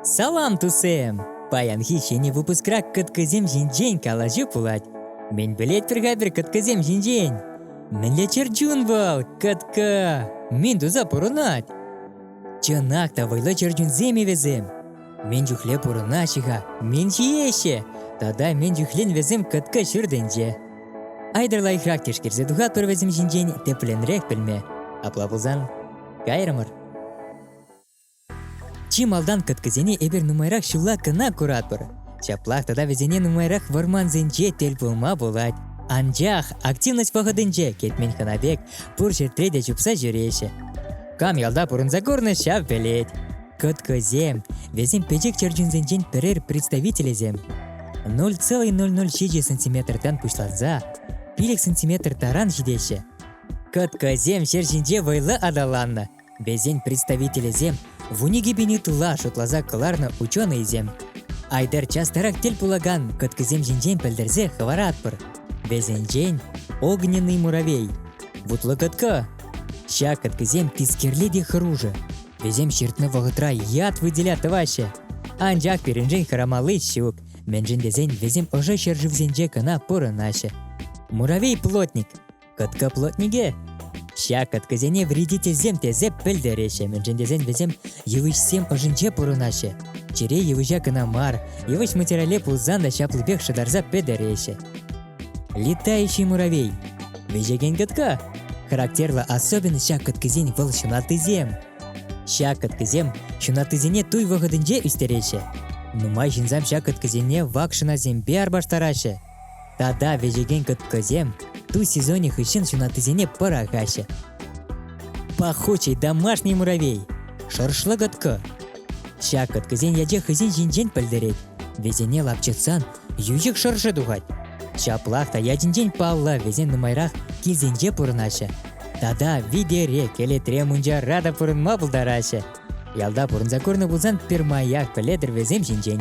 Салам тусем! Паянхи ҫӗнӗ выпускра кӑткӑсем ҫинчен калаҫу пулать. Мӗн пӗлетпӗр-ха пӗр кӑткӑсем ҫинчен? Мӗнле чӗрчун вӑл, кӑткӑ! Мӗн туса пурӑнать? Чӑнах та вӑйлӑ чӗрчунсем-и вӗсем? Мӗн чухле пурӑнаҫҫӗ-ха, мӗн ҫиеҫҫӗ? Тата мӗн чухлен вӗсем кӑткӑ ҫыр тӗнче? Айтӑр лайӑхрах тишкерсе тухатпӑр вӗсем ҫинчен тӗплӗнрех пӗлме. Апла пулсан Кайрӑмӑр. Чи малтан кӑткӑсене эпир нумайрах ҫулла кӑна куратпӑр. Ҫаплах тата вӗсене нумайрах вӑрмансенче тӗл пулма пулать. Анчах активность вӑхӑтӗнче кӗтмен хӑна пек пур ҫӗртре те чупса ҫӳреҫҫӗ. Кам ялта пурӑнса курнӑ ҫав пӗлет. Кӑткӑсем, вӗсем пӗчӗк чӗрчунсенчен пӗрер представителӗсем. 0,007 сантиметртан пуҫланса пилӗк сантиметр таран ҫитеҫҫӗ. Кӑткӑсем ҫӗр ҫинче вӑйлӑ аталаннӑ. Вӗсен представителӗсем вун икӗ пин ытла шутласа кӑларнӑ ученӑйсем. Айтӑр частарах тӗл пулакан кӑткӑсем ҫинчен пӗлтерсе хӑваратпӑр. Вӗсенчен огненный муравей, вутлӑ кӑткӑ. Ҫак кӑткӑсем тискерле те хӑрушӑ. Вӗсем ҫыртнӑ вӑхӑтра ят выделя тӑваҫҫӗ. Анчах пирӗншен хӑрамалли ҫук, мӗншӗн тесен вӗсем ӑшӑ ҫӗршывсенче кӑна пурӑнаҫҫӗ. Муравей-плотник Кӑткӑплотнике! Ҫак кӑткӑсене вредительсем тесе пӗлтереҫҫӗ, мӗншӗн тесен вӗсем йывӑҫсем ӑшӗнче пурӑнаҫҫӗ. Чире йывӑҫа кӑна мар, йывӑҫ материале пулсан та ҫаплипех шӑтарса пӗтереҫҫӗ. Летающий муравей – вӗҫекен кӑтка. Характерлӑ особенность ҫак кӑткӑсен вӑл ҫунаттисем. Ҫак кӑткӑсем ҫунаттисене туй вӑхӑтӗнче ӳстереҫҫӗ. Нумай ҫынсем ҫак кӑткӑсене вак шӑнасемпе арпаштараҫҫӗ. Тата вӗҫекен кӑткӑсем ту сезонӗ хыҫҫӑн ҫунаттисене пӑрахаҫҫӗ. Пахучий домашний муравей, шӑршлӑ кӑткӑ. Ҫак кӑткӑсен ячӗ хӑйсен ҫинчен пӗлтерет. Вӗсене лапчӑтсан йӳҫӗк шӑршӑ тухать. Ҫаплах та ячӗнчен паллӑ вӗсем нумайрах килсенче пурӑнаҫҫӗ. Тата витере, кӗлетре мунчара та пурӑнма пултараҫҫӗ. Ялта пурӑнса курнӑ пулсан пӗрмаях пӗлетӗр вӗсем ҫинчен.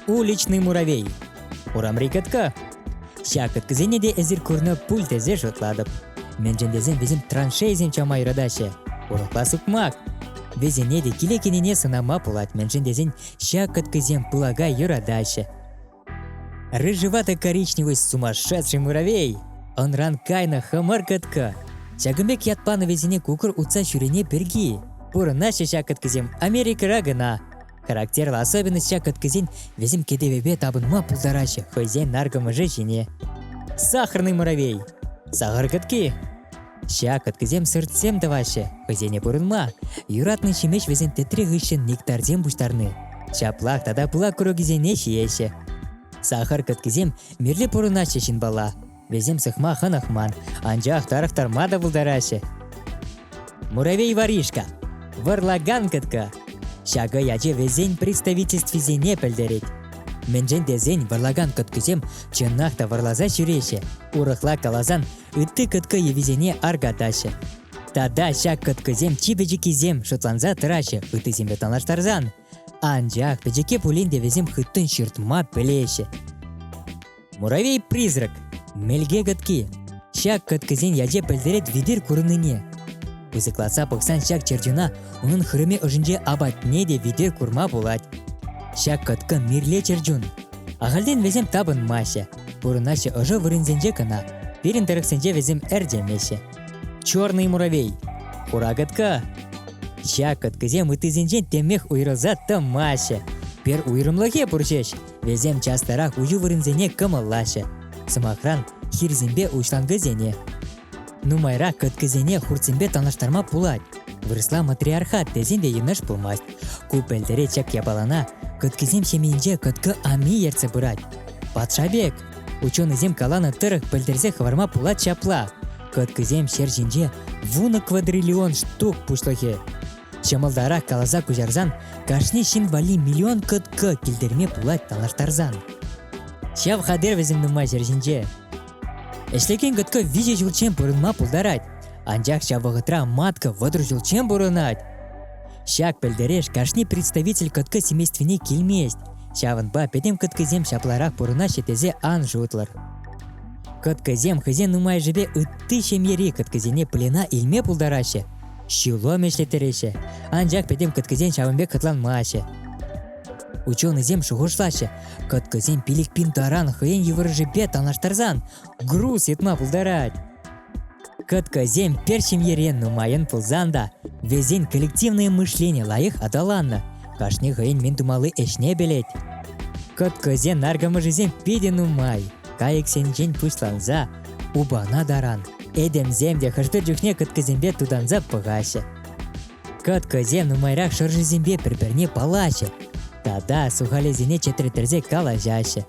Уличный муравей Урамри кӑткӑ. Ҫак кӑткӑсене те эсир курнӑ пуль тесе шутлатӑп. Мӗншӗн тесен вӗсем траншейӑсен чама юратаҫҫӗ. Урӑхла сукмак. Вӗсене те киле кӗнине сӑнама пулать, мӗншӗн тесен ҫак кӑткӑсем пылака юратаҫҫӗ. Рыжеватый коричневый сумасшедший муравей. Ӑнран кайнӑ хӑмӑр кӑткӑ. Ҫакӑн пек ят панӑ вӗсене кукӑр утса ҫӳрене пирки. Пурӑнаҫҫӗ ҫак кӑткӑсем Америкӑра кӑна. Характерлӑ особенность ҫак кӑткӑсен вӗсем кӗтӗвӗпе тапӑнма пултараҫҫӗ хӑйсен наркӑмӑшӗ ҫине. Сахарный муравей сахар кӑтки Ҫак кӑткӑсем сӑртсем тӑваҫҫӗ, хӑйсене пурӑнма. Юратнӑ ҫимӗҫ вӗсен тӗтре хыҫҫӑн нектарсем пуҫтарни. Ҫаплах тата пылак курӑкӗсене ҫиеҫҫӗ. Сахар кӑткӑсем мирлӗ пурӑнаҫҫӗ ҫынпала. Вӗсем сыхма хӑнӑхман, анчах тарӑхтарма та пултараҫҫӗ. Муравей Варишка, вӑрлакан кӑткӑ. Ҫакӑ ячӗ вӗсен представительствисене пӗлтерет. Мӗншӗн тесен вӑрлакан кӑткӑсем чӑнах та вӑрласа ҫӳреҫҫӗ, урӑхла каласан ытти кӑткӑ йӑвисене аркатаҫҫӗ. Тата ҫак кӑткӑсем чи пӗчӗккисем шутланса тӑраҫҫӗ ыттисемпе танлаштарсан. Анчах пӗчӗкке пулин те вӗсем хыттӑн ҫыртма пӗлеҫҫӗ. Муравей-призрак – мелке кӑтки. Ҫак кӑткисен ячӗ пӗлтерет витӗр курӑннине. Пысӑклатса пӑхсан ҫак чертюна унӑн хырӑмӗ ӑшӗнче апатне те витӗр курма пулать. Ҫак кӑткӑ мирле чертюн. Ахальтен вӗсем тапӑнмаҫҫӗ, пурӑнаҫҫӗ ӑшӑ вырӑнсенче кӑна, пирӗн тӑрӑхсенче вӗсем ӗрчемеҫҫӗ. Черный муравей, хура кӑткӑ. Ҫак кӑткӑсем ыттисенчен темех уйрӑлса тӑмаҫҫӗ. Пер уйрӑмлӑхе пур ҫеҫ, Вӗсем час-тарах уҫу вырӑнсене кӑмӑллаҫҫӗ. Сӑмахран, хирсемпе уҫланкӑсене. Нумайрак кӑткӑсене хуртсемпе танлаштарма пулать. Вырӑсла матриархат тесен те йӑнӑш пулмасть. Ку пӗлтӗре чак япалана кӑткӑсем ҫемйинче кӑткӑ ами ертсе пырать. Патша пек! Ученӑйсем каланӑ тӑрӑх пӗлтерсе хӑварма пулать ҫапла. Кӑткӑсем ҫӗр ҫинче вунӑ квадриллион штук пуҫлӑхӗ. ҫӑмӑлтарах каласа куҫарсан кашни ҫын валли миллион кӑткӑ килтерме пулать танлаштарсан. Ҫав хатӗр вӗсем нумай ҫӗр ҫинче. Ӗҫлекен кӑткӑ виҫӗ ҫулччен пурӑнма пултарать, анчах ҫав вӑхӑтра матка вӑтӑр ҫулччен пурӑнать. Ҫак пӗлтереш кашни представитель кӑткӑ семействине килмест, ҫавӑнпа пӗтӗм кӑткӑсем ҫапларах пурӑнаҫҫӗ тесе ан шутлӑр. Кӑткӑсем хӑйсен нумайӑшӗпе ытти ҫемьери кӑткӑсене плена илме пултараҫҫӗ, Ҫулӑм ӗҫлеттереҫҫӗ, анчах пӗтӗм кӑткӑсен ҫавӑн пек хӑтланмаҫҫӗ. Ученӑйсем шухӑшлаҫҫӗ, кӑткӑсем пилӗк пин таран хӑйӗн йывӑрӑшӗпе танлаштарсан груз йӑтма пултарать. Кӑткӑсем пӗр ҫемьере нумайӑн пулсан та вӗсен коллективное мышлени лайӑх аталаннӑ, кашни хӑйӗн мӗн тумалли ӗҫне пӗлет. Кӑткӑсен наркӑмӑшӗсем питӗ нумай, кайӑксенчен пуҫланса Упана таран этемсем те хӑш-пӗр чухне кӑткӑсемпе тутанса пӑхаҫҫӗ. Кӑткӑсем нумайрах шӑршисемпе пӗр-пӗрне паллаҫҫӗ тата сухалесене чӗтреттерсе калаҫаҫҫӗ.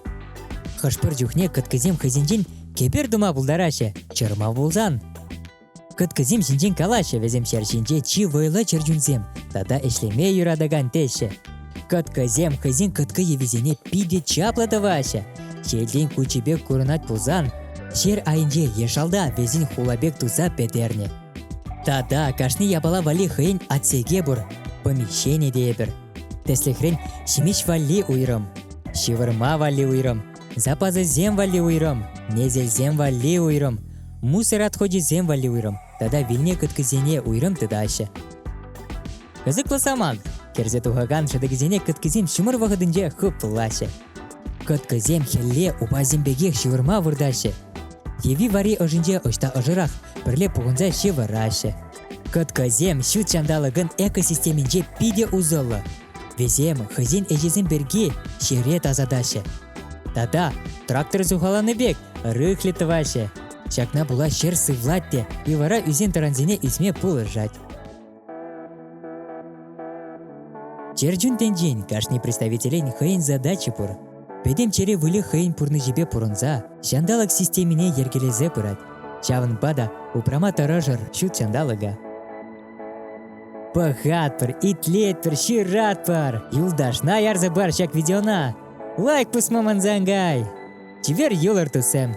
Хӑш-пӗр чухне кӑткӑсем хӑйсенчен кепер тума пултараҫҫӗ, чӑрмав пулсан. Кӑткӑсем ҫинчен калаҫҫӗ вӗсемшер ҫинче чи вӑйлӑ чӗрчунсем тата ӗҫлеме юратакан теҫҫӗ. Кӑткӑсем хӑйсен кӑткӑ йӑвисене питӗ чаплӑ тӑваҫҫӗ. Ҫелтен кучӗ пек курӑнать пулсан, ҫер айӗнче е шалта вӗсен хула пек туса пӗтернӗ. Тата кашни япала валли хӑйӗн отсеке пур, помещени тейӗпӗр. Тӗслӗхрен, ҫимӗҫ валли уйрӑм, ҫывӑрма валли уйрӑм, Запасӗсем валли уйрӑм, несӗлсем валли уйрӑм, мусор отходӗсем валли уйрӑм тата вилнӗ кӑткӑсене уйрӑм тытаҫҫӗ. Кӑсӑклӑ самант. Кӗрсе тухакан шӑтӑкӗсене кӑткӑсем ҫумӑр вӑхӑтӗнче хыпӑллаҫҫӗ. Кӑткӑсем хӗлле упасем пекех ҫывӑрма выртаҫҫӗ. Йӑви вари ӑшӗнче ӑҫта ӑшӑрах пӗрле пухӑнса ҫывӑраҫҫӗ. Кӑткӑсем ҫут ҫанталӑкӑн экосистеминче питӗ усӑллӑ, Вӗсем хӑйсен ӗҫӗсем пирки ҫӗре тасатаҫҫӗ. Тата трактор сухаланӑ пек рыхлӗ тӑваҫҫӗ. Ҫакна пула ҫӗр сывлать те и вара ӳсен-тӑрансене ӳсме пулӑшать. Чӗрчун тӗнчин кашни представителӗн хӑйӗн задачи пур. Пӗтӗм чӗре выльӑх хӑйӗн пурнӑҫӗпе пурӑнса ҫанталӑк системине йӗркелесе пырать. Ҫавӑнпа та упрама тӑрӑшӑр ҫут ҫанталӑка. Пӑхатпӑр, итлетпӗр, ҫыратпӑр. Юлташна ярса пар ҫак видеона. Лайк пусма мансан кай. Чипер юлӑр, туссем.